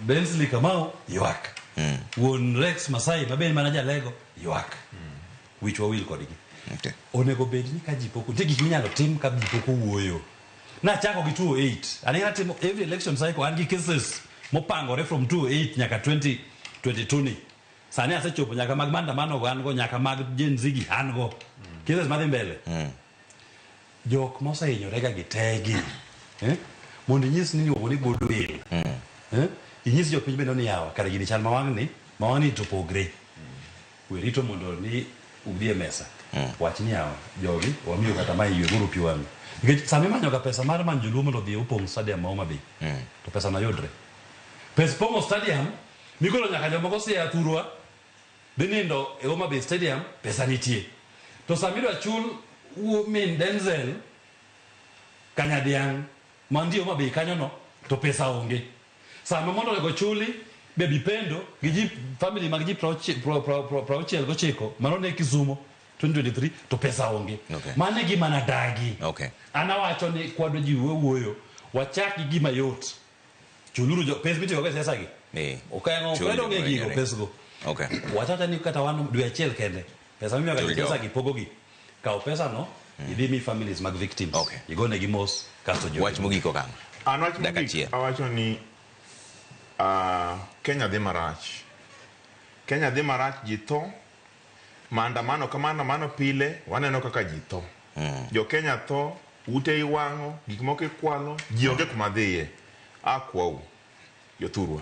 Bensley Kamau ywak. Wuon Rex Masai ma bende mana jalego ywak. Wich wawil kodgi. Okay. Onego bed ni ka ji pok nitie gik minyalo tim ka ji pok owuoyo. Nachako gi 208. Ani natimo every election cycle an gi cases mopangore from 208 nyaka 2022 ni. Sani asechopo nyaka mag maandamano go an go nyaka mag Gen Z gi an go. Cases madhi mbele. Jok mosehinyorega gi teygi eh? mondo inyis ni iluongo ni goodwill mm. eh? inyis jopiny bende ni yawa kare gini chal ma wang'ni ma wang'ni to pogre we rito mondo ni udhi e mesa mm. wach ni yawa jogi wamiyo kata ma ywe guru pi wang'ni nikech sama imanyoga pesa mar manyo joluo mondo odhi opong' stadium ma Homa Bay mm. to pesa no yudre pes pong'o stadium migolo nyaka jomoko siya thurwa Dhi nindo e Homa Bay Stadium pesa nitie. To sama idwa chul wuo min Denzel Kanyadiang' mantie Homa Bay kanyono to pesa onge. Sama mondo onego chuli baby pendo gi ji family mag ji prauchi- pra- pra- pra- prauchiel gochiko mano ne Kisumo 2023 to pesa onge. Okay. Mano e gima nadagi. Okay. An awacho ni kwadwa ji wuoyo wachak gi gima yot. chuluru jo- pes mitiyogo e siasa gi Eh. ok en- ok Chul en onge joma gigo nyere. pesgo Okay. watata ni kata wan dwe achiel kende pesa mimiyoga Chul jo jogo. pesa gi pogogi kaw pesano idhi mi families mag victims Okay. igonegi mos kasto jo Wach mogik okang'. An wach Dakika mogik achiel. awacho ni ah, Kenya dhi marach. Kenya dhi marach ji tho Maandamano ka maandamano pile waneno kaka ji tho. Jo Kenya tho, ute iwang'o, gik moko ikwalo, ji onge kuma dhiye. Akwau, jothurwa.